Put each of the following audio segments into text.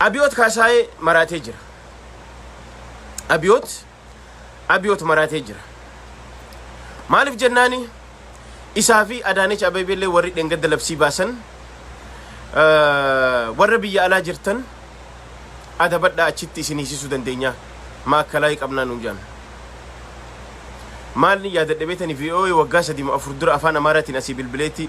Abiyoot Kaasaayee maraatee jira. Abiyoot Abiyoot maraatee jira. Maaliif jennaani isaa fi Adaanech Abeebeellee warri dheengadda labsii baasan eh, warra biyya alaa jirtan adabadhaa achitti isin hiisisuu dandeenyaa maakkalaa qabnaa nuun jedhan. Maalni yaadadha beetani VOA waggaa sadii moo afur dura afaan Amaaraatiin asii bilbileetti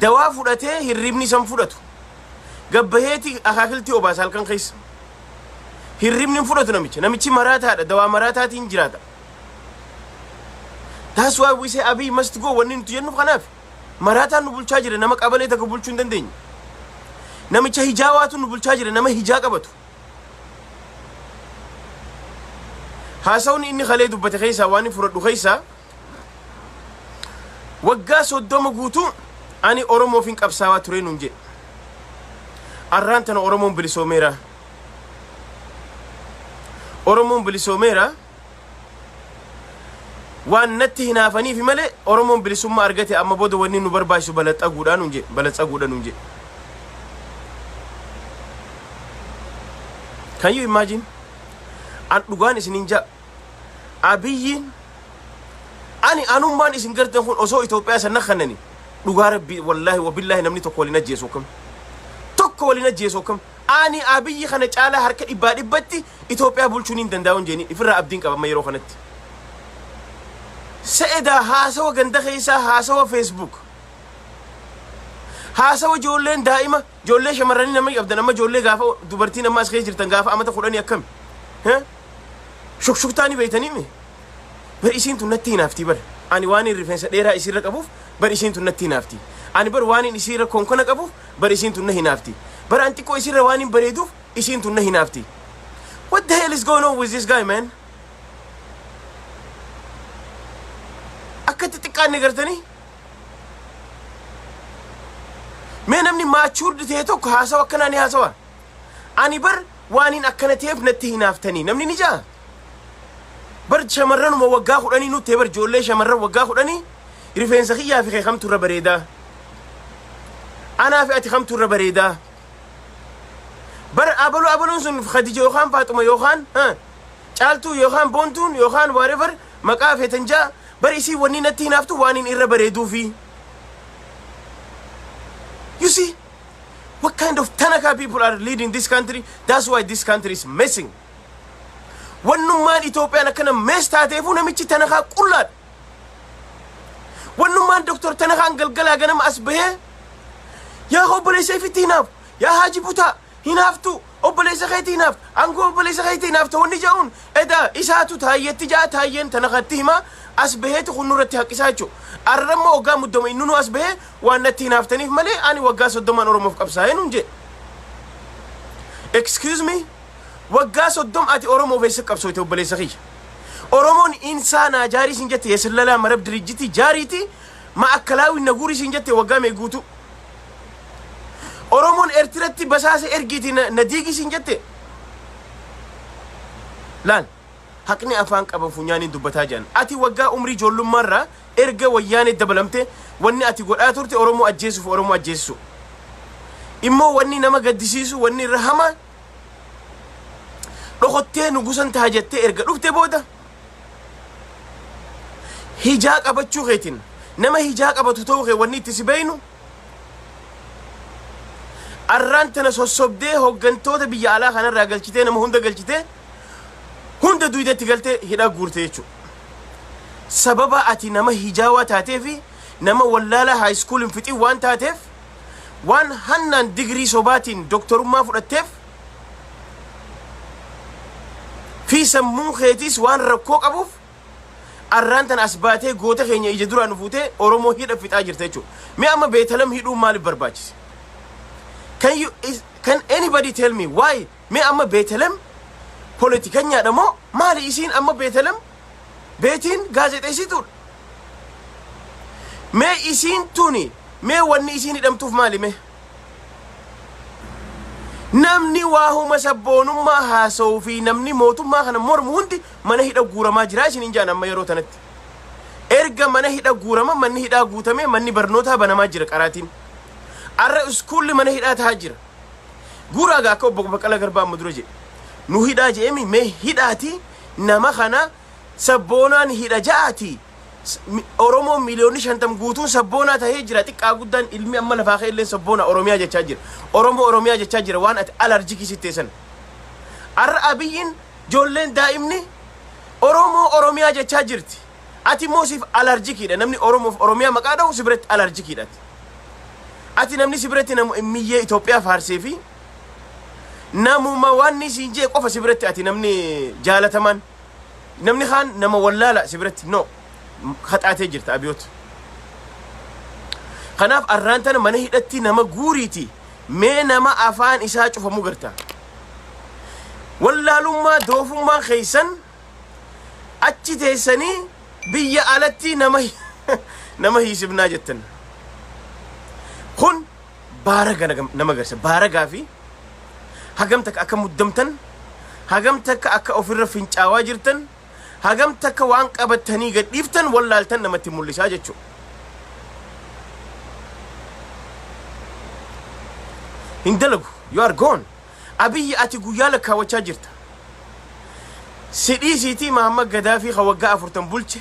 Dawaa fudhatee hirribni isan fudhatu. Gabbaheeti akaakiltii obaasa halkan keessa. Hirribni hin fudhatu namicha. Namichi maraataadha. Dawaa maraataatiin jiraata. That's why we say Abiy must go wanni nuti jennu kanaaf. Maraataan nu bulchaa jira nama qabalee takka bulchuu hin dandeenye. Namicha hijaa waatu nu bulchaa jira nama hijaa qabatu. Haasawni inni kalee dubbate keessaa waan inni fudhadhu keessaa Waggaa 30 guutuu ani Oromoofin qabsaawaa turee nun jedhe. Arraan tana Oromoon bilisoomeera. Oromoon bilisoomeera. Waan natti hinaafaniifi malee Oromoon bilisummaa argate amma booda wanni nu barbaachisu balaxaguudhaan nun jedhe. Balaxaguudhaan nun jedhe. Can you imagine? An dhugaan isinin jaa Abiyyiin ani anummaan isin gartan kun osoo Itoophiyaa san nakkannani dhugaa rabbii wallaahi wabillaahi namni tokko waliin ajjeesu akkam tokko waliin ajjeesu akkam ani abiyyi kana caalaa harka dhibbaa dhibbatti Itoophiyaa bulchuun hin danda'u hin jeeni ifirraa abdiin qaba amma yeroo kanatti se'edaa haasawa ganda keessaa haasawa feesbuuk haasawa ijoolleen daa'ima ijoollee shamarranii namni qabdan amma ijoollee gaafa dubartiin amma as keessa jirtan gaafa amata kudhanii akkami Heh? Shukshuktaa ni beeytanii mi? Bar isiin tun natti hinaaftii bar. Ani waaniin rifeensa dheeraa isiirra qabuuf bar isiin tun natti hinaaftii. Ani bar waaniin isiirra konkona qabuuf bar isiin tun na hinaaftii. Bar an xiqqoo isiirra waaniin bareeduuf isiin tun na hinaaftii. What the hell is going on with this guy man? Akkatti xiqqaanne gartanii? Mee namni maachuurdi ta'e tokko haasawa akkanaa ni haasawa. Ani bar Waaniin akkana ta'eef natti hinaaftanii namni ni ja'a? Bar shamarranuma waggaa kudhanii nutti bar ijoollee shamarran waggaa kudhanii rifeensa kiyyaa fi kee kamtu irra bareedaa? Anaa fi ati kamtu irra bareedaa? Bar abaluu abaluun sun Khadija yookaan Faaxuma yookaan ha, caaltuu yookaan boontuun yookaan whatever maqaa feetan ja'a bar isii wanni natti hinaaftu waaniin irra bareeduufi. You see? What kind of Tanaka people are leading this country? That's why this country is messing. Wannummaan Itoophiyaan akkana mees taateefuu namichi Tanakaa qullaadha. Wannummaan Dr. Tanakaan galgalaa ganama as bahee yaa obboleessa ifitti hinaafu, yaa haaji butaa hinaaftuu, Obboleessa keeti hinaafta. Angoo obboleessa keeti hinaafta wanni ja'uun edaa isaatu taayyetti ja'a taayyeen tana katti himaa as baheeti kun nurratti haqqisaa jechuu. Arra immoo waggaa muddama innunuu as bahee waan natti hinaaftaniif malee ani waggaa soddomaan Oromoof qabsaa'ee nuun jee. Excuse me waggaa soddom ati Oromoof eessa qabsooyte obboleessa kiyya. Oromoon insaa naa jaarii siin jette yesillalaa marab dirijjitii jaariiti ma akkalaawiin na guurii siin jette waggaa mee guutuu. Oromoon Ertiratti basaasa ergiiti na, na diigi siin jette. Laal, haqni afaan qaba funyaaniin dubbataa jiran. Ati waggaa umrii ijoollummaarraa erga wayyaanee dabalamte wanni ati godhaa turte Oromoo ajjeesuuf Oromoo ajjeessu. Immoo wanni nama gaddisiisu wanni irra hamaa dhokottee nugusan taha jettee erga dhufte booda hijaa qabachuu keetiin nama hijaa qabatu ta'uu kee wanni itti si beeynu arraan tana sossobdee hoggantoota biyya alaa kanarraa galchitee nama hunda galchitee hunda duudetti galtee hidhaa guurte jechuudha. Sababa ati nama hijaawaa taatee fi nama wallaalaa haayiskuuliin fixii waan taateef waan hannaan digirii sobaatiin doktorummaa fudhatteef fi sammuu keetiis waan rakkoo qabuuf arraan tan as baatee goota keenya ija duraan fuutee Oromoo hidha fixaa jirta jechuudha. Mee amma Beetalam hidhuun maaliif barbaachise? Can you is, can anybody tell me why? Mee amma Beetalam politikanyaadha moo maali isiin amma Beetalam beetiin gaazexeessituudha? Mee isiin tuni mee wanni isiin hidhamtuuf maali mee? Namni waahuma sabboonummaa haasa'uu fi namni mootummaa kana mormu hundi mana hidha guuramaa jira isiniin jedhan amma yeroo tanatti. Erga mana hidha guurama manni hidhaa guutamee manni barnootaa banamaa jira qaraatiin. Arra iskuulli mana hidhaa tahaa jira. Guuraaga akka obbo Baqqalaa Garbaa amma dura jedhe. Nu hidhaa jedhemi mee hidhaati nama kana sabboonaan hidha ja'aati Oromoon miiliyoonni shantam guutuun sabboonaa tahee jira xiqqaa guddaan ilmi amma lafaa ka'e illee sabboona Oromiyaa jechaa jira Oromoo Oromiyaa jechaa jira waan ati alarjikii sittee sana arra abiyyiin joolleen daa'imni Oromoo Oromiyaa jechaa jirti ati immoo siif alarjikiidha namni Oromoof Oromiyaa maqaa dha'u si biratti alarjikiidha ati namni si biratti namu miyyee Itoophiyaa faarsee fi namuma wanni siin jee qofa si biratti ati namni jaalatamaan namni kaan nama wallaala si biratti no haxaatee jirta abiyoot kanaaf arraan tana mana hidhatti nama guuriiti mee nama afaan isaa cufamu garta wallaalummaa doofummaa keessan achi teessanii biyya alatti nama nama hiisifnaa jettan kun baaraga nagam- nama agarsiisa. Baaragaa fi hagam takka akka muddamtan, hagam takka akka ofirra fincaawaa jirtan, hagam takka waan qabattanii gad dhiiftan wallaaltan namatti mul'isaa jechuudha. Hin dalagu. You are gone. Abiyyi ati guyyaa lakkaawachaa jirta. Sidhii siitii Mahammad Gadaafii ka waggaa afurtan bulche.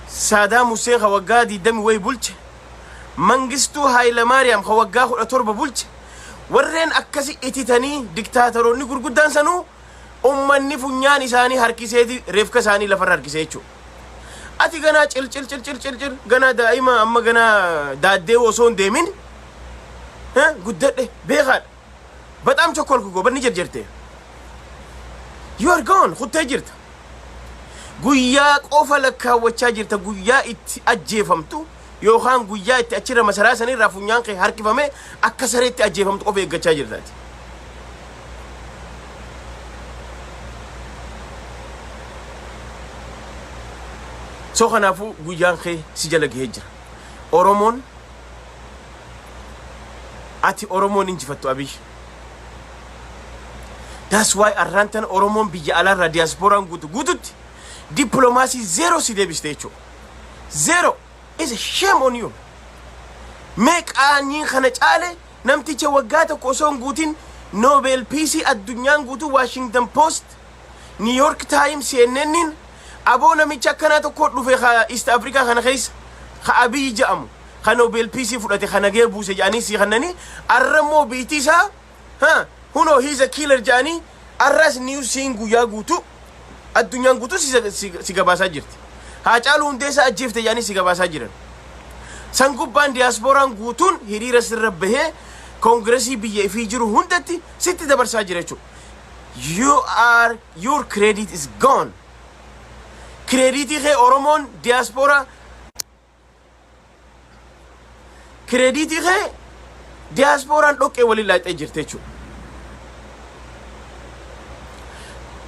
Saadaam Huseen ka waggaa 20 wayi bulche. Mangistuu Haayilamaariyaam ka waggaa 17 bulche, warreen akkasi ititanii diktaataroonni gurguddaan sanuu ummanni funyaan isaanii harkiseeti reefka isaanii lafarra harkise jechuudha. Ati ganaa cilcil cilcil cilcil ganaa daa'ima amma ganaa daaddee osoo hin deemin eh, guddadhe beekaadha. Bexaam chokkolku gobanni jerjerte. You are gone kuttee jirta. Guyyaa qofa lakkaawwachaa jirta guyyaa itti ajjeefamtu yookaan guyyaa itti achirra masaraa sanirraa funyaan kee harkifamee akka sareetti ajjeefamtu qofa eeggachaa jirtaati. So kanaafuu guyyaan kee si jala gahee jira. Oromoon Ati Oromoon injifattu Abiy. That's why arraan tana Oromoon biyya alaarraa diyaaspooraan guutu guututti dippiloomaasii zeeroo si deebiste jechuudha. Zeeroo is a shame on you. Mee qaanyiin kana caale namticha waggaa tokko osoo hin guutin Nobel Piisii addunyaan guutuu Washington Post, New York Times, CNN'n Aboo namicha akkanaa tokkoo dhufe ka East Africa kana keessa ka Abiy ja'amu ka Nobel Peace fudhate ka nagaya buuse ja'anii sii kannanii arra immoo biitii isaa ha hunoo he is a killer ja'anii arraas news siin guyyaa guutuu addunyaan guutuu si, si, si gabaasaa jirti. Haacaaluu hundeessaa ajjeefte ja'anii si gabaasaa jiran. San gubbaan diyaaspooraan guutuun hiriira sirra bahee koongiresii biyya ifii jiru hundatti sitti dabarsaa jira jechuudha. you are your credit is gone kireediitii kee oromoon diyaaspooraa kireediitii kee diyaaspooraan dhoqqee waliin laaqxee jirte jechuudha.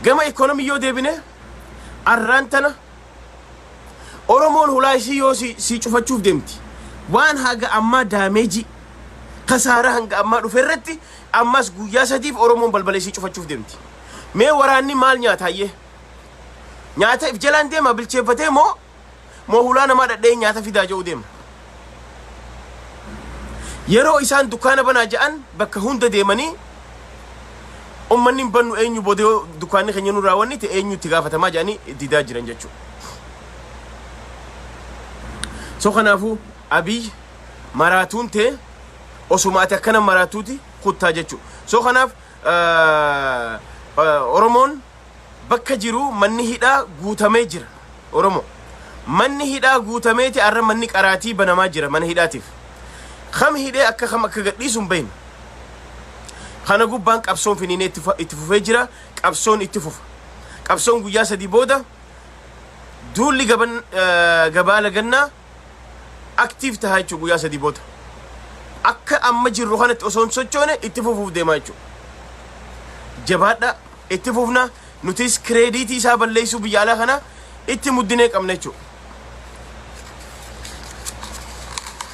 Gama ikoonomii yoo deebine arraan tana Oromoon hulaa isii yoo si, si cufachuuf deemti waan haga ammaa daameejii kasaaraa hanga ammaa dhufe irratti Ammas guyyaa sadiif Oromoon balbala isii cufachuuf deemti. Mee waraanni maal nyaata hayyee? Nyaata if jalaan deema bilcheeffatee moo moo hulaa namaa dhadhee nyaata fidaa jedhu deema. Yeroo isaan dukkaana banaa ja'an bakka hunda deemanii ummanni hin bannu eenyu booda yoo dukkaanni keenya nu raawwannite eenyu itti gaafatamaa jedhanii didaa jiran jechuudha. So kanaafuu Abiy maraatuun tee osuma ati akkana maraatuuti kuttaa jechuu so kanaaf oromoon bakka jiru manni hidhaa guutamee jira oromoo manni hidhaa guutameeti arra manni qaraatii banamaa jira mana hidhaatiif kam hidhee akka kam akka gadhiisu hin beeknu kana gubbaan qabsoon finiinee itti fu- itti fufee jira qabsoon itti fufa qabsoon guyyaa sadii booda duulli gaban eh, gabaa lagannaa active taha jechuudha guyyaa sadii booda. Akka amma jirru kanatti osoo hin sochoone itti fufuuf deemaa jechuudha. Jabaadha itti fufna nutis kireediitii isaa balleessuu biyya alaa kana itti muddinee qabna jechuudha.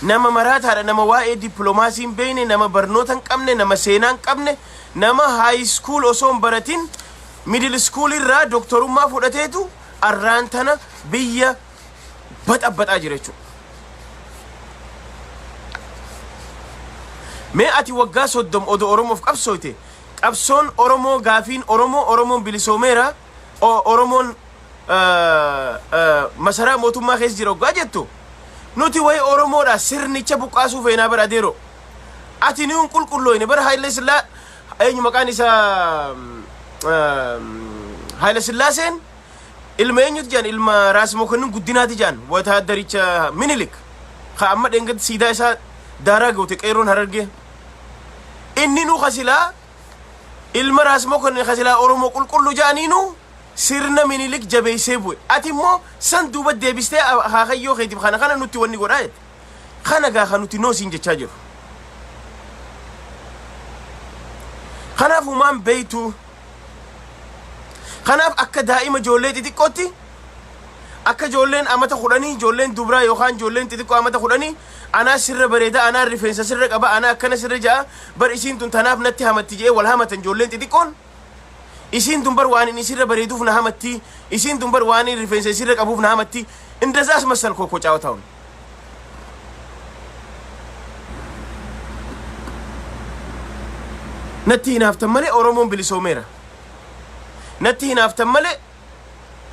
Nama maraataadha nama waa'ee dippiloomaasii hin beekne nama barnoota hin qabne nama seenaa hin qabne nama haayi iskuul osoo hin baratin miidil iskuul irraa doktorummaa fudhateetu arraan tana biyya baxabaxaa jira jechuudha. Mee ati waggaa soddom odoo Oromoof qabsooyte qabsoon Oromoo gaafiin Oromoo Oromoon bilisoomeera o- Oromoon eh, eh, masaraa mootummaa keessa jira oggaa jettu nuti waa'ee Oromoodha sirnicha buqqaasuu feenaa bara adeeroo. Ati nuun qulqullooyne bara Haayile Sillaa eenyu maqaan isaa Haayile Sillaaseen Ilma eenyuti jedhan ilma Raas Mokonnin Guddinaati jedhan wataaddaricha Minilik ka amma dheengaddi siidaa isaa daaraa goote qeerroon harargee. Inninu ka silaa ilma Raas Mokonnin ka silaa Oromoo qulqulluu jedhaniinu sirna Minilik jabeessee bu'e. Ati immoo san duuba deebistee akaakayyoo keetiif kana kana nutti wanni godhaa jette. Kana gaa kan nuti noo siin jechaa jiru. Kanaaf humaan beeytuu. Kanaaf akka daa'ima ijoollee xixiqqootti akka ijoolleen amata kudhanii ijoolleen dubraa yookaan ijoolleen xixiqqoo amata kudhanii anaa sirra bareeda anaa rifeensa sirra qaba anaa akkana sirra ja'a bar isiin tun tanaaf natti hamatti je'ee wal hamatan ijoolleen xixiqqoon isiin tun bar waan inni sirra bareeduuf na hamatti isiin tun bar waan inni rifeensa sirra qabuuf na hamatti indazaas masal kookoo caawataawun. natti hinaaftan malee oromoon bilisoomeera natti hinaaftan malee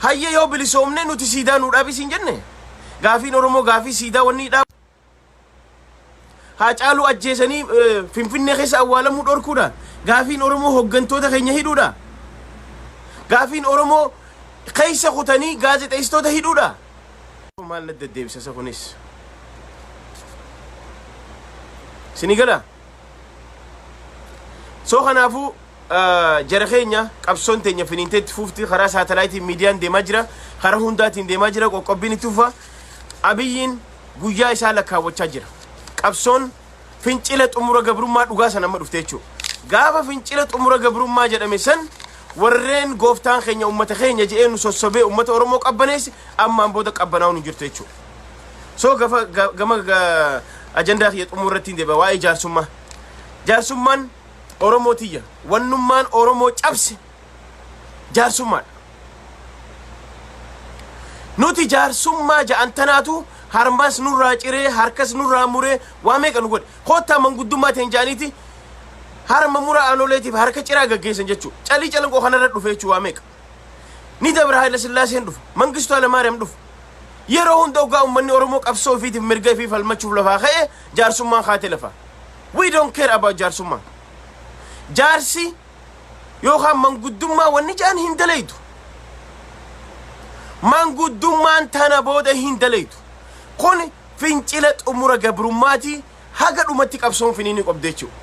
hayya yoo bilisoomne nuti siidaa nuu dhaabi siin jenne gaafiin oromoo gaafii siidaa wanni hidhaa Haacaaluu ajjeesanii Finfinnee keessa awwaalamuu dhorkuudha. Gaafiin Oromoo hoggantoota keenya hidhuudha. Gaafiin Oromoo keessa kutanii gaazexeessitoota hidhuudha. Maal na deddeebisa isa kunis? Sini gala? Soo kanaafuu jara keenya qabsoon teenya finiintee itti fuufti karaa saatalaayitiin miidiyaan deemaa jira. Karaa hundaatiin deemaa jira qoqqobbiin itti fufa. Abiyyiin guyyaa isaa lakkaawwachaa jira. Qabsoon fincila xumura gabrummaa dhugaa san amma dhufte jechuudha. Gaafa fincila xumura gabrummaa jedhame san warreen gooftaan keenya uummata keenya jedhee nu sossobee uummata Oromoo qabbaneesse ammaan booda qabbanaa'uun hin jirtu jechuudha. So gafa ga- gama ga- ajandaa kiyya xumura irratti hin deebi'a waa'ee jaarsummaa. Jaarsummaan Oromoo tiyya. Wannummaan Oromoo cabse jaarsummaadha. Nuti jaarsummaa ja'an tanaatu harmas nurraa ciree harkas nurraa muree waa meeqa nu godhe. Koottaa manguddummaa ta'een ja'aniiti harma mura aanoleetiif harka ciraa gaggeessan jechuudha. Calii calanqoo kanarra dhufe jechuudha waa meeqa. Ni dabra Haayila Sillaaseen dhufa. Mangistuu Hayilamaariyaam dhufa. Yeroo hunda ogaa uummanni Oromoo qabsoo ofiitiif mirga ofii falmachuuf lafaa ka'e jaarsummaan kaatee lafa. We don't care about jaarsummaa. Jaarsi yookaan manguddummaa wanni jedhan hin dalaydu. Manguddummaan tana booda hin dalaydu. Kun fincila xumura gabrummaati haga dhumatti qabsoon finiinii qabdi jechuudha.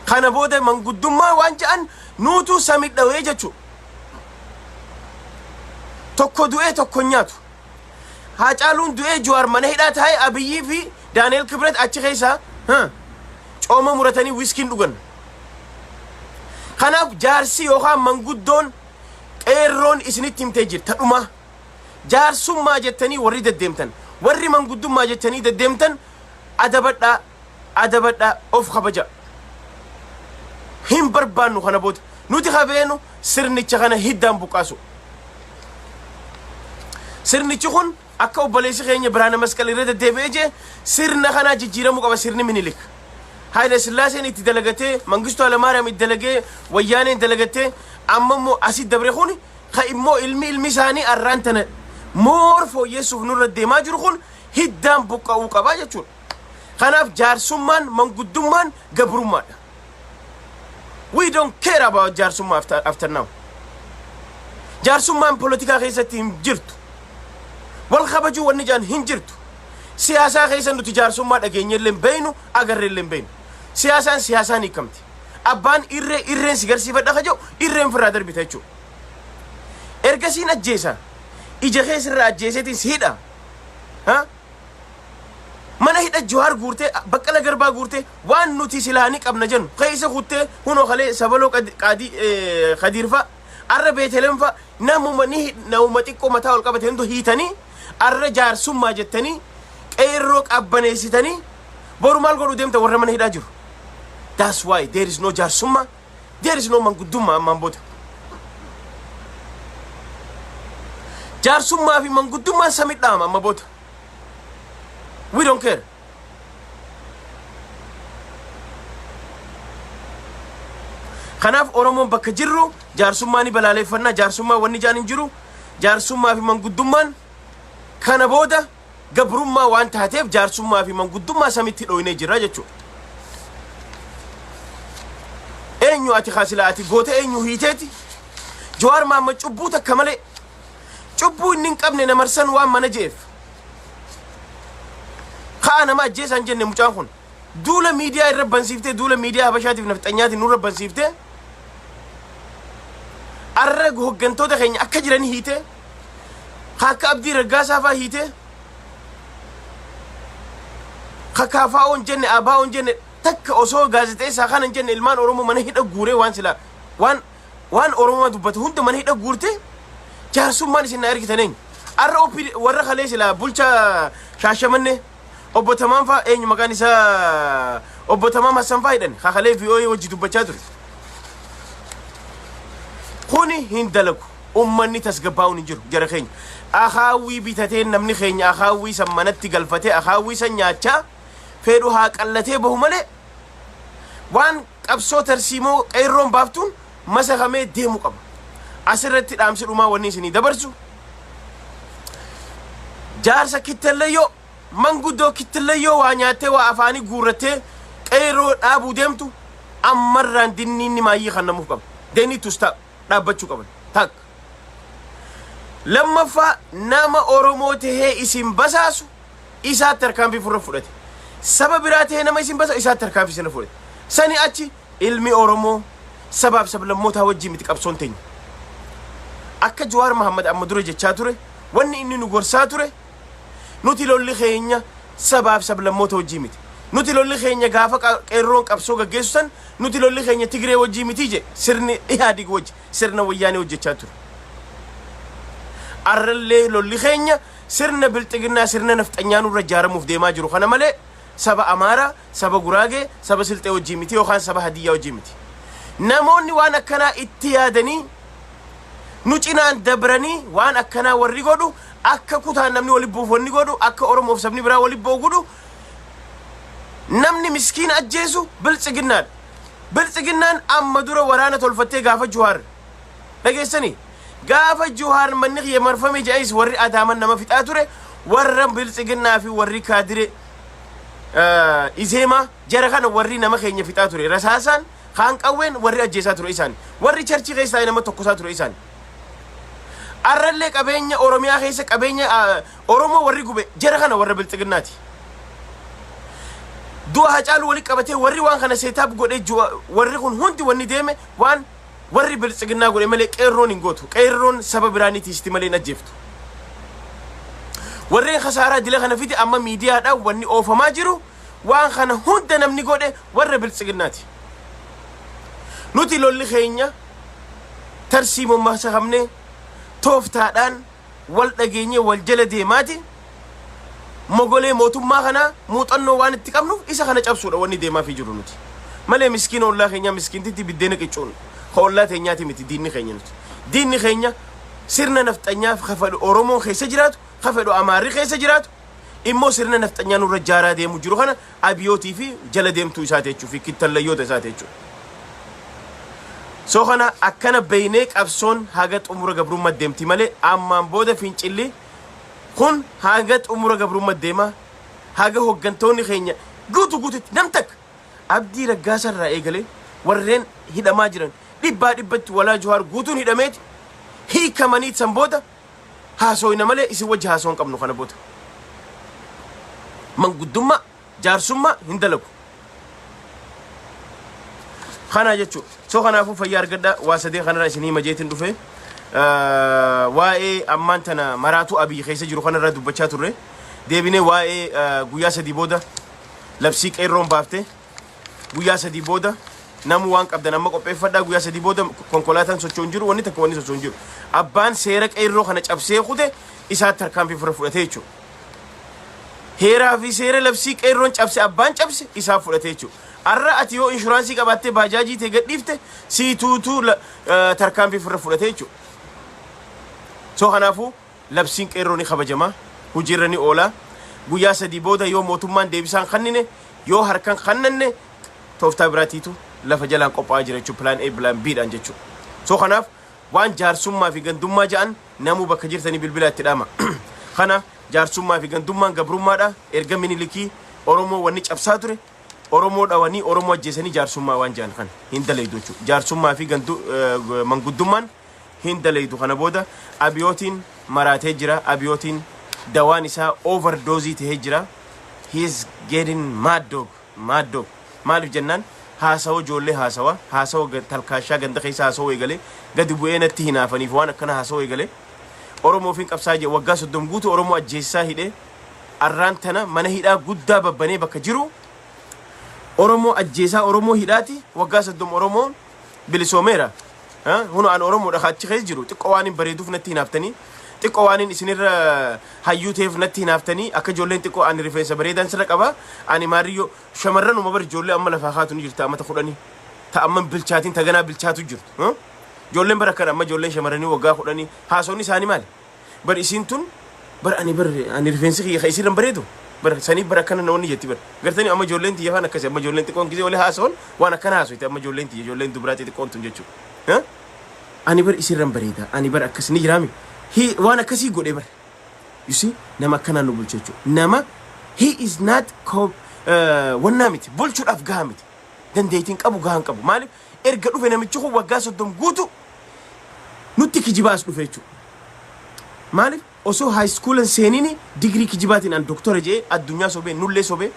Kana booda manguddummaa waan jedhan nuutuu samidhawee jechuudha. Tokko du'ee tokko hin nyaatu. Haacaaluun du'ee Jawaar mana hidhaa taa'ee Abiyyii fi Daani'el Kibret achi keessaa ha, cooma muratanii wiskiin dhugan. Kanaaf jaarsi yookaan manguddoon qeerroon isinitti himtee jirti tadhumaa. Jaarsummaa jettanii warri deddeemtan warri manguddummaa jettanii deddeemtan adabadhaa adabadhaa of kabaja. Hin barbaannu kana booda nuti kafeenu sirnicha kana hiddaan buqqaasu. Sirnichi kun Akka obboleessi keenya Birhaana Masqal irra deddeebi'ee jee sirna kanaa jijjiiramuu qaba sirni Minilik. Haayila Sillaaseen itti dalagatee, Mangistuu Alamaariyaam itti dalagee, Wayyaaneen dalagattee, amma immoo asi dabre kun ka immoo ilmi ilmi isaanii arraan tana moor fooyyeessuuf nurra deemaa jiru kun hiddaan buqqa'uu qaba jechuudha. Kanaaf jaarsummaan manguddummaan gabrummaadha. We don't care about jaarsummaa after, after now. Jaarsummaan polotikaa keessatti hin jirtu. Wal kabajuu wanni jaan hin jirtu. Siyaasaa keessa nuti jaarsummaa dhageenye illee hin beeynu, agarre illee hin beeynu. Siyaasaan siyaasaan hiikamti. Abbaan irree irreen si garsiifadha ka jedhu irreen firraa darbita jechuudha. Ergasiin ajjeesa. Ija keessa irraa ajjeeseetiin si hidha. Ha? mana hidha Jawaar guurtee Baqqala Garbaa guurtee waan nuti silaa ni qabna jennu keessa kuttee hunoo kalee sabaloo qaadii kadiirfaa arra beetelemfaa namuma ni namuma xiqqoo mataa ol qabate hundu hiitanii arra jaarsummaa jettanii qeerroo qabbaneessitanii boru maal godhu deemta warra mana hidhaa jiru. That's why there is no jaarsummaa There is no manguddummaa ammaan booda. Jaarsummaa fi manguddummaan samii dhaama amma booda. We don't care. Kanaaf Oromoon bakka jirru jaarsummaa ni balaaleffannaa jaarsummaa wanni jaan hin jiru jaarsummaa fi manguddummaan kana booda gabrummaa waan taateef jaarsummaa fi manguddummaa samitti dhooynee jirra jechuudha. Eenyu ati kaasila ati goota eenyu hiiteeti? Jawaar Maamma cubbuu takka malee cubbuu inni hin qabne na marsan waan mana je'eef. Ka'a nama ajjeesaan jenne mucaan kun. Duula miidiyaa irra bansiiftee duula miidiyaa habashaatiif nafxanyaatiin nurra bansiiftee arra hoggantoota keenya akka jiran hiitee Ka akka Abdii Raggaasaa faa hiitee ka kaafaa'oo hin jenne aabaa'oo hin jenne takka osoo gaazexeessaa kana hin jenne ilmaan Oromoo mana hidha guuree waan silaa waan waan Oromoo dubbate hunda mana hidha guurtee jaarsummaan isin na ergitan eenyu? Arra OPD warra kalee silaa bulchaa shaashamannee Obbo Tamaam faa eenyu maqaan isaa Obbo Tamaam Hassan faa hidhan kakalee VOA wajji dubbachaa ture. Kuni hin dalagu. Ummanni tasgabbaa'uun hin jiru jara keenya. Akaawwii bitatee namni keenya akaawwii san manatti galfatee akaawwii san nyaachaa fedhu haa qallatee bahu malee waan qabsoo tarsiimoo qeerroon baaftuun masakamee deemu qaba. Asirratti dhaamsi dhumaa wanni isinii dabarsu jaarsa kittellayyoo manguddoo kittellayyoo waa nyaattee waa afaanii guurrattee qeerroo dhaabuu deemtu ammarraan dinniinni maayyii kannamuuf qaba. They need to stop. Dhaabbachuu qaban. Takka. Lammaffaa nama Oromoo tahee isin basaasu isaatti tarkaanfii furra fudhate. Saba biraa tahee nama isin basaasu isaatti tarkaanfii sirra fudhate. Sani achi Ilmi Oromoo sabaaf sablammootaa wajjin miti qabsoon teenya. Akka Jawaar Mahammad amma dura jechaa ture, wanni inni nu gorsaa ture, nuti lolli keenya sabaaf sablammoota wajjin miti. Nuti lolli keenya gaafa qa- qeerroon qabsoo gaggeessu san, nuti lolli keenya Tigree wajjin miti jedhe sirni Ihaadig wajji, sirna wayyaanee hojjechaa ture. Arrallee lolli keenya sirna bilxiginnaa sirna nafxanyaa nurra ijaaramuuf deemaa jiru kana malee Saba Amaaraa, saba Guraagee, saba Silxee wajjin miti yookaan saba Hadiyyaa wajjin miti. Namoonni waan akkanaa itti yaadanii nu cinaan dabranii waan akkanaa warri godhu akka kutaan namni walitti bu'uuf wanni godhu akka Oromoof sabni biraa walitti bu'u godhu namni miskiina ajjeesu biltsiginnaadha. Biltsiginnaan amma dura waraana tolfattee gaafa Juhaar dhageessanii Gaafa Juhaar manni kiyya marfame jedhais warri Adaaman nama fixaa ture warra Biltsiginnaa fi warri Kaadire Izeemaa jara kana warri nama keenya fixaa ture rasaasaan kaan qawween warri ajjeesaa ture isaan warri charchii keessaa nama tokkosaa ture isaan arrallee qabeenya Oromiyaa keessa qabeenya Oromoo warri gube jara kana warra Biltsiginnaati. Du'a Hacaaluu walitti qabatee warri waan kana seetaap godhee warri kun hundi wanni deeme waan Warri biltsiginnaa godhe malee qeerroon hin gootu. Qeerroon saba biraa ni tiisti malee hin ajjeeftu. Warreen kasaaraa dila kana fide amma miidiyaadhaan wanni oofamaa jiru waan kana hunda namni godhe warra biltsiginnaati. Nuti lolli keenya tarsiimoon masakamnee tooftaadhaan wal dhageenyee wal jala deemaati mogolee mootummaa kanaa muuxannoo waan itti qabnuuf isa kana cabsuudha wanni deemaafii jiru nuti. Malee miskiina ollaa keenyaa miskiintitti biddeena qiccuun ka ollaa teenyaati miti diinni keenya nuti. Diinni keenya sirna nafxanyaaf ka fedhu Oromoon keessa jiraatu, ka fedhu Amaarri keessa jiraatu, immoo sirna nafxanyaa nurra jaaraa deemu jiru kana abiyootii fi jala deemtuu isaa teechuu fi kittallayyoota isaa teechuu. So kana akkana beeynee qabsoon haga xumura gabrummaa deemti malee ammaan booda fincilli kun haga xumura gabrummaa deema haga hoggantoonni keenya guutu guututti nam takka abdii raggaasaa irraa eegalee warreen hidhamaa jiran dhibbaa dhibbatti walaa juhaar guutuun hidhameeti hiikamanii san booda Haasooyna malee isin wajji haasoo hin qabnu kana booda. Manguddummaa, jaarsummaa hin dalagu. Kanaa jechuudha. So kanaafuu fayyaa argadhaa waa sadeen kanarraa isin hima jeetiin dhufe. Ah, Waa'ee ammaan tana maraatuu abiyyi keessa jiru kanarraa dubbachaa turre. Deebinee waa'ee ah, guyyaa sadii booda labsii qeerroon baafte. Guyyaa sadii booda namu waan qabdan amma qopheeffadhaa guyyaa sadii booda konkolaataan socho'u hin jiru wanni takka wanni socho'u hin jiru. Abbaan seera qeerroo kana cabsee kute isaa tarkaanfii fira fudhatee jechuudha. Heeraa fi seera labsii qeerroon cabse abbaan cabse isaa fudhatee jechuudha. Har'a ati yoo inshuraansii qabaattee baajaajii tee gadhiifte sii tuutuu la- eh, tarkaanfii fira fudhatee jechuudha. So kanaafuu Labsiin Qeerroo ni kabajama, hojiirra ni oola. Guyyaa sadii booda yoo mootummaan deebisaa hin kannine, yoo harka hin kannanne tooftaa biraatiitu lafa jalaan qophaa'aa jira jechuudha plan A plan B dhaan jechuudha. So kanaaf waan jaarsummaa fi gandummaa ja'an namuu bakka jirtanii bilbilaa itti dhaama. Kana jaarsummaa fi gandummaan gabrummaadha. Erga Minilikii Oromoo wanni cabsaa ture Oromoo dhawanii Oromoo ajjeesanii jaarsummaa waan ja'an kana hin dalaydu jechuudha. Jaarsummaa fi gandu eh, manguddummaan hin dalaydu kana booda abiyootiin maraatee jira abiyootiin dawaan isaa over doozii tahee jira he is getting mad dog mad dog maaliif jennaan haasawa ijoollee haasawa haasawa ga- talkaashaa ganda keessa haasawa eegale gadi bu'ee natti hinaafaniif waan akkana haasawa eegale Oromoo fi qabsaa jee waggaa soddom guutuu Oromoo ajjeessaa hidhee arraan tana mana hidhaa guddaa babbanee bakka jiru Oromoo ajjeesaa Oromoo hidhaati waggaa soddom Oromoo bilisoomeera. Hunu an Oromoodha kaachi keessa jiru xiqqoo waan hin bareeduuf natti hinaaftanii xiqqoo waan hin isinirra hayyuu ta'eef natti hinaaftanii akka ijoolleen xiqqoo ani rifeensa bareedaan sirra qaba ani maariyyoo shamarran uma bar ijoollee amma lafaa kaatu ni jirta amata kudhanii ta amma bilchaatiin taganaa bilchaatu jirtu ijoolleen bara kan amma ijoolleen shamarranii waggaa kudhanii haasonni isaanii maali Bar isiin tun bar ani bar ani rifeensi kiyya ka isiirra hin bareedu bar saniif bar akkana na wanni jetti bar gartanii amma ijoolleen tiyya faan akkasi amma ijoolleen xiqqoon gisee wali haasawan waan akkana haasofti amma ijoolleen tiyya ijoolleen dubraa xixiqqoon tun jechuu Eh? ani bar isiirra hin bareeda ani bar akkas ni jiraami Hi waan akkasii godhe bar you see nama akkanaan nu bulchu jechuudha nama he is not co- eh, wannaa miti bulchuudhaaf gahaa miti dandeettiin qabu gahaa hin qabu maaliif erga dhufe namichi kun waggaa soddom guutu nutti kijibaa as dhufe jechuudha. Maaliif osoo haayiskuulan seenini digirii kijibaatiin an doktora jedhee addunyaa sobee nullee sobee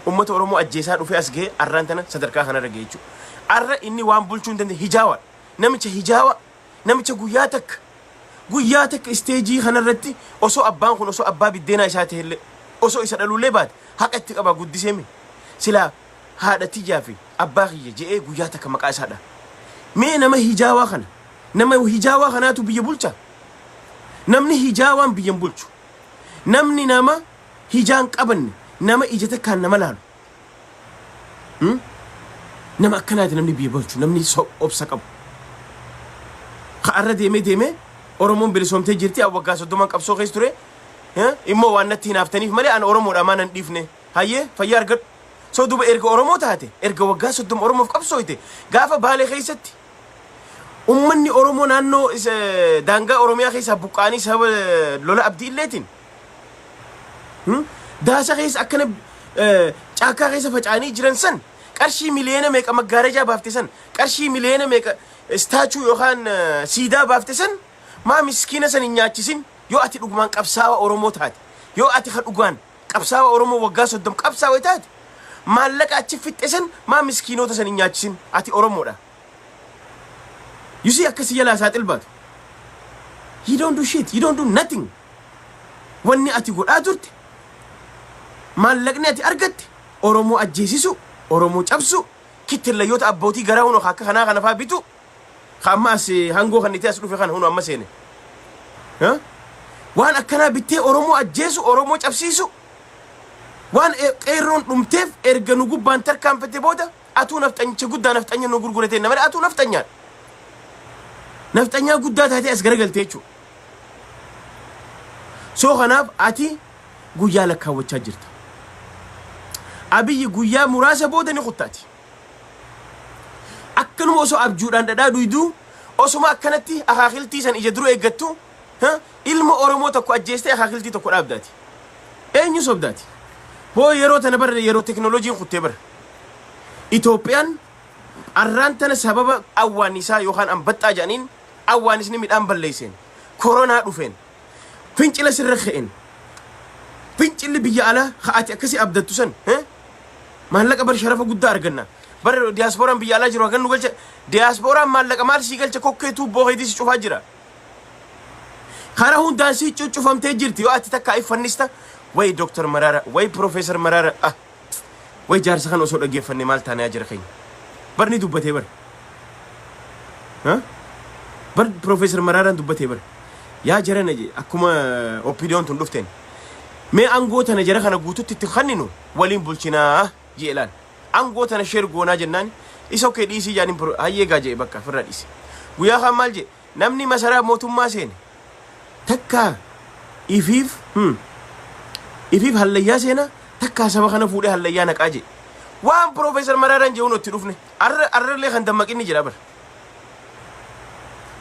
uummata Oromoo ajjeesaa dhufee as ga'ee arraan tana sadarkaa kanarra ga'e jechuudha. Arra inni waan bulchuu hin dandeenye hijaawaadha. Namicha hijaawaa namicha guyyaa takka guyyaa takka isteejii kanarratti osoo abbaan kun osoo abbaa biddeenaa isaa ta'ellee osoo isa dhaluullee baate haqa itti qabaa guddisee mi silaa haadha tiyyaa fi abbaa kiyya je'ee guyyaa takka maqaa isaa dha. Mee nama hijaawaa kana, nama hijaawaa kanaatu biyya bulcha? Namni hijaawaan biyya hin bulchu. Namni nama hijaan qabanne, nama ija takkaan nama laalu. Hmm? Nama akkanaati namni biyya bulchu, namni so- obsa qabu. Ka'arra deemee deemee Oromoon bilisoomtee jirti, an waggaa soddoman qabsoo keessa ture. Eh? Immoo waan natti hinaaftaniif malee an Oromoodha maa nan dhiifne. Hayyee fayyaa argadhu. So duba erga Oromoo taate, erga waggaa 30 Oromoof qabsooyte, gaafa Baalee keessatti ummanni Oromoo naannoo daangaa Oromiyaa keessaa buqqaanii sababa lola abdii illeetiin daasa keessa akkana caakkaa keessa facaanii jiran san qarshii miliyoona meeqa maggaarajaa baafte san qarshii miliyoona meeqa istaachuu yookaan siidaa baafte san maa miskiina san hin nyaachisin yoo ati dhugumaan qabsaawa Oromoo taate yoo ati ka dhugaan Qabsaawa oromoo waggaa soddom qabsaawe taate maallaqa achi fixxe san maa miskiinoota san hin nyaachisin ati oromoodha you see akka si jalaa saaxil baatu you don't do shit you don't do nothing wanni ati godhaa turte maallaqni ati argatte oromoo ajjeesisuu oromoo cabsuu kittillayyoota abbootii garaa hunoo akka kanaa kanafaa bituu ka amma as hangoo kannitee as dhufe kana hunu amma seene Ha? waan akkanaa bittee oromoo ajjeesu oromoo cabsiisu waan e- qeerroon dhumteef erga nu gubbaan tarkaanfate booda atuu nafxanyicha guddaa nafxanya nu gurguratee nama atuu nafxanyaadha nafxanyaa guddaa taatee as garagalte jechuudha soo kanaaf ati guyyaa lakkaawwachaa jirta abiyyi guyyaa muraasa booda ni kuttaati Akkanuma osoo abjuudhaan dhadhaa duyduu, osuma akkanatti akaakiltii san ija dura eeggattu, ha, ilma Oromoo tokko ajjeestee akaakiltii tokko dhaabda ati. Eenyu sobda ati? Hoo yeroo tana bara yeroo teknolojiin kuttee bara. Itoophiyaan arraan tana sababa awwaannisaa yookaan anbaxxaa jedhaniin awwaanisni midhaan balleesseen, koronaa dhufeen, Fincila sirra ka'een fincilli biyya alaa ka ati akkasi abdattu san eh? maallaqa bar sharafa guddaa arganna. Bar diyaaspooraan biyya alaa jiru hagan nu galcha. Diyaaspooraan maallaqa maal sii galcha kokkee tuubboo keetii si cufaa jira. Karaa hundaan sii cuccufamtee jirti yoo ati takka iffannista. Wayi Dooktar Maraara, wayi Piroofeesar Maraara. Ah, Way jaarsa kana osoo dhaggeeffanne maal taanee ajara keenya. Bar ni dubbatee bar. Ha? Bar Profeesar Maraaraan dubbatee bar. Yaa jarana je akkuma oppiidiyoon tun dhufteen. Mee angoo tana jara kana guututti itti kanninu waliin bulchinaa jee laal. Angoo tana sheer goonaa jennaan isa okkee dhiisii jaaniin pro- hayyee gaa jee bakka firra dhiise. Guyyaa kaan maal jee Namni masaraa mootummaa seene takkaa ifiif hmm, ifiif hallayyaa seena takkaa saba kana fuudhee hallayyaa naqaa jee. Waan Piroofeesar Maraaraan jehuun itti dhufne arra arrallee kan dammaqinni jira bara.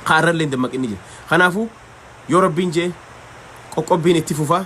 Kan arrallee dammaqinni jira. Kanaafuu yoo rabbiin jee qoqqobbiin itti fufaa.